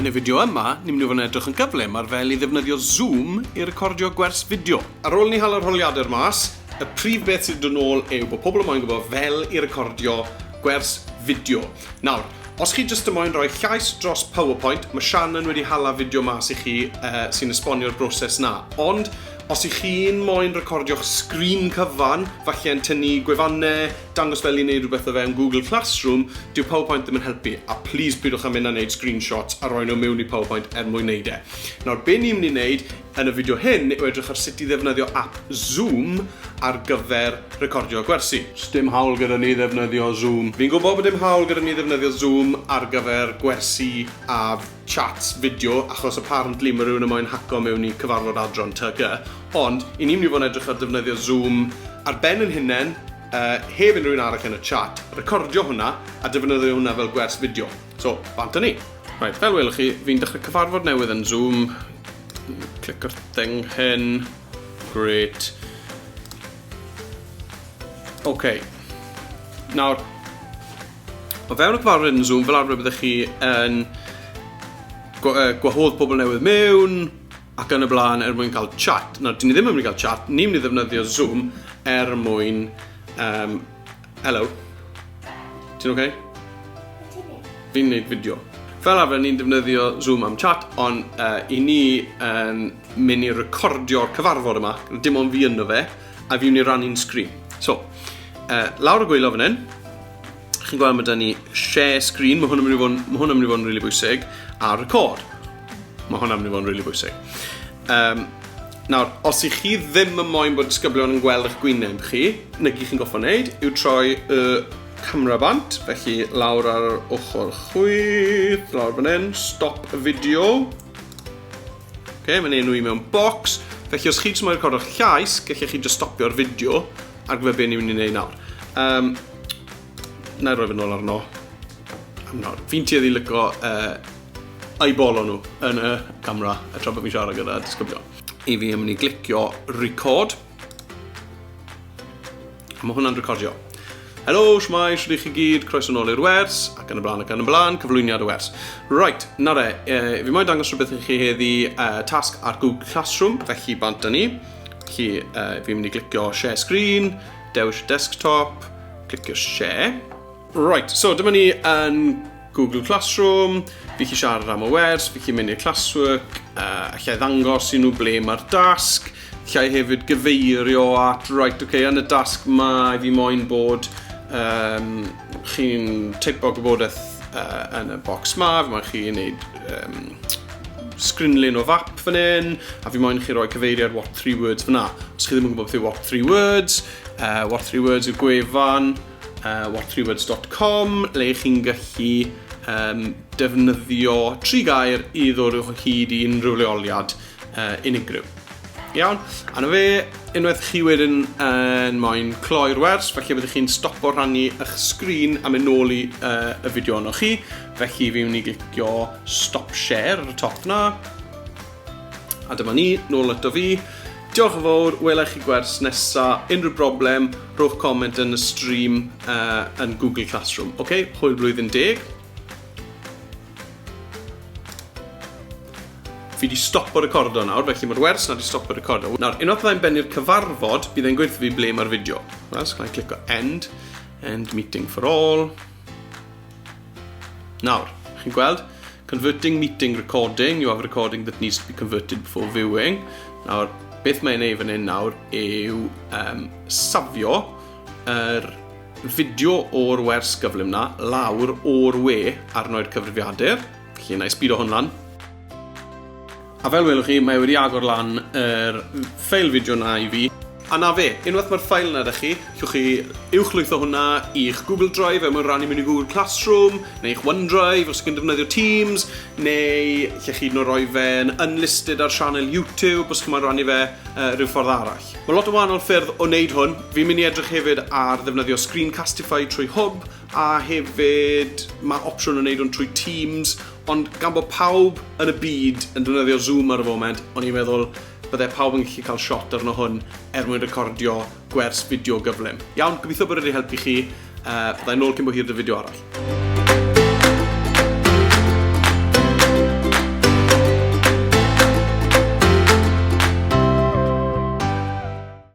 Yn y fideo yma, ni'n mynd i fod yn edrych yn gyflym ar fel i ddefnyddio Zoom i recordio gwers fideo. Ar ôl ni hal yr holiadur mas, y prif beth sydd yn ôl yw bod pobl yn moyn gwybod fel i recordio gwers fideo. Nawr, os chi jyst yn moyn rhoi llais dros PowerPoint, mae Shannon wedi hala fideo mas i chi uh, sy'n esbonio'r broses na. Ond, os i chi'n moyn recordio'ch sgrin cyfan, falle yn tynnu gwefannau, dangos fel i wneud rhywbeth o fewn Google Classroom, dyw PowerPoint ddim yn helpu, a plis pidwch â mynd a wneud screenshots a rhoi nhw mewn i PowerPoint er mwyn wneud e. Nawr, be ni'n mynd i wneud yn y fideo hyn yw edrych ar sut i ddefnyddio app Zoom ar gyfer recordio gwersi. Sdim hawl gyda ni ddefnyddio Zoom. Fi'n gwybod bod dim hawl gyda ni ddefnyddio Zoom ar gyfer gwersi a chats fideo achos apparently ma' rhywun yn moyn haco mewn i cyfarfod adran ty gy, ond i ni myn' i fod yn edrych ar defnyddio Zoom ar ben yn hunen yy heb unrhyw un arall yn y chat, recordio hwnna a defnyddio hwnna fel gwers fideo. So, bant â ni. Reit, fel welwch chi, fi'n dechre cyfarfod newydd yn Zoom. Clic ar thing hyn. Great. OK. Nawr, O fewn y cyfarfod yn Zoom, fel arfer byddwch chi yn gwahodd pobl newydd mewn ac yn y blaen er mwyn cael chat. Nawr, dyn ni ddim yn mynd i gael chat, ni'n mynd i ddefnyddio Zoom er mwyn... Um, hello. Ti'n oce? Okay? Fi'n neud fideo. Fel arfer, ni'n defnyddio Zoom am chat, ond uh, i ni yn um, mynd i recordio'r cyfarfod yma, dim ond fi ynddo fe, A fi'n mynd i rannu'n sgrin. So, uh, lawr y gwylio fan hyn, chi'n gweld mae da ni share screen, mae hwn yn mynd i fod yn, hwn yn, mynd i fod yn really bwysig, a record. Mae hwn yn mynd i fod yn really bwysig. Um, nawr, os i chi ddim yn moyn bod disgyblion yn gweld eich gwyneb chi, neu gyd chi'n goffa wneud, yw troi y camera bant, felly lawr ar ochr chwith, lawr fan hyn, stop y fideo, Ok, mae'n enw i mewn box. Felly os chi jyst moyn recordo'ch llais, gallech chi jyst stopio'r fideo ar gyfer beth ni'n mynd i wneud nawr. Um, na i roi fy nôl arno. Am nawr. Fi'n tueddu lyco uh, eyeball nhw yn y camera a tra bod fi'n siarad gyda disgyblion. I fi yn mynd i glicio record. Mae hwnna'n recordio. Helo, shwmae, shwt ych chi gyd, croeso nôl i'r wers, ac yn y blaen ac yn y blaen, cyflwyniad y wers. Right, na re, e, fi moyn dangos rhywbeth i chi heddi e, tasg ar Google Classroom, felly bant â ni. Felly, e, fi'n mynd i glicio share screen, dewis desktop, clicio share. Right, so dyma ni yn Google Classroom, fi chi siarad am y wers, fi chi mynd i'r classwork, uh, allai ddangos i nhw ble mae'r dasg, allai hefyd gyfeirio at, right, okay, yn y dasg mae fi moyn bod um, chi'n teipo gwybodaeth uh, yn y box ma, fi moyn chi'n neud um, sgrinlun o fap fan hyn, a fi moyn chi roi cyfeiriad what three words fyna. Os chi ddim yn gwybod beth yw what three words, uh, what three words yw gwefan, uh, whatthreewords.com le i chi'n gallu um, defnyddio tri gair i ddod o'ch hyd i unrhyw leoliad uh, unigryw. Iawn, a na fe, unwaith chi wedyn yn moyn cloi'r wers, felly byddwch chi'n stopo rhannu eich sgrin a mynd nôl i uh, y fideo yno chi, felly fi mynd i glicio stop share ar y top na, A dyma ni, nôl ato fi. Diolch yn fawr, wela i chi gwers nesa. Unrhyw broblem, rhowch comment yn y stream uh, yn Google Classroom. Oce, okay? hwyl blwyddyn deg. Fi wedi stopo recordo nawr, felly mae'r wers na wedi stopo recordo. Nawr, unwaith byddai'n bennu'r cyfarfod, bydd e'n gweithio fi ble mae'r fideo. Wel, so clico end, end meeting for all. Nawr, chi'n gweld, converting meeting recording, you have a recording that needs to be converted before viewing. Nawr, beth mae'n ei fan hyn nawr yw um, safio yr er fideo o'r wers gyflym na lawr o'r we arno'r cyfrifiadur. Felly, na i sbido hwn lan. A fel welwch chi, mae wedi agor lan yr ffeil fideo na i fi. A na fe, unwaith mae'r ffail yna da chi, llwch chi uwchlwytho hwnna i'ch Google Drive er mwyn rannu mewn i Google Classroom, neu i'ch OneDrive os chi'n defnyddio Teams, neu lle chi hyd roi fe'n unlisted ar sianel YouTube os chi'n rannu fe uh, rhyw ffordd arall. Mae lot o wahanol ffyrdd o wneud hwn. Fi'n mynd i edrych hefyd ar ddefnyddio Screencastify trwy Hwb, a hefyd mae opsiwn o wneud hwn trwy Teams, ond gan bod pawb yn y byd yn defnyddio Zoom ar y foment, o'n i'n meddwl bydde pawb yn gallu cael shot arno hwn er mwyn recordio gwers fideo gyflym. Iawn, gobeithio bod wedi helpu chi, uh, byddai nôl cyn bo hir dy fideo arall.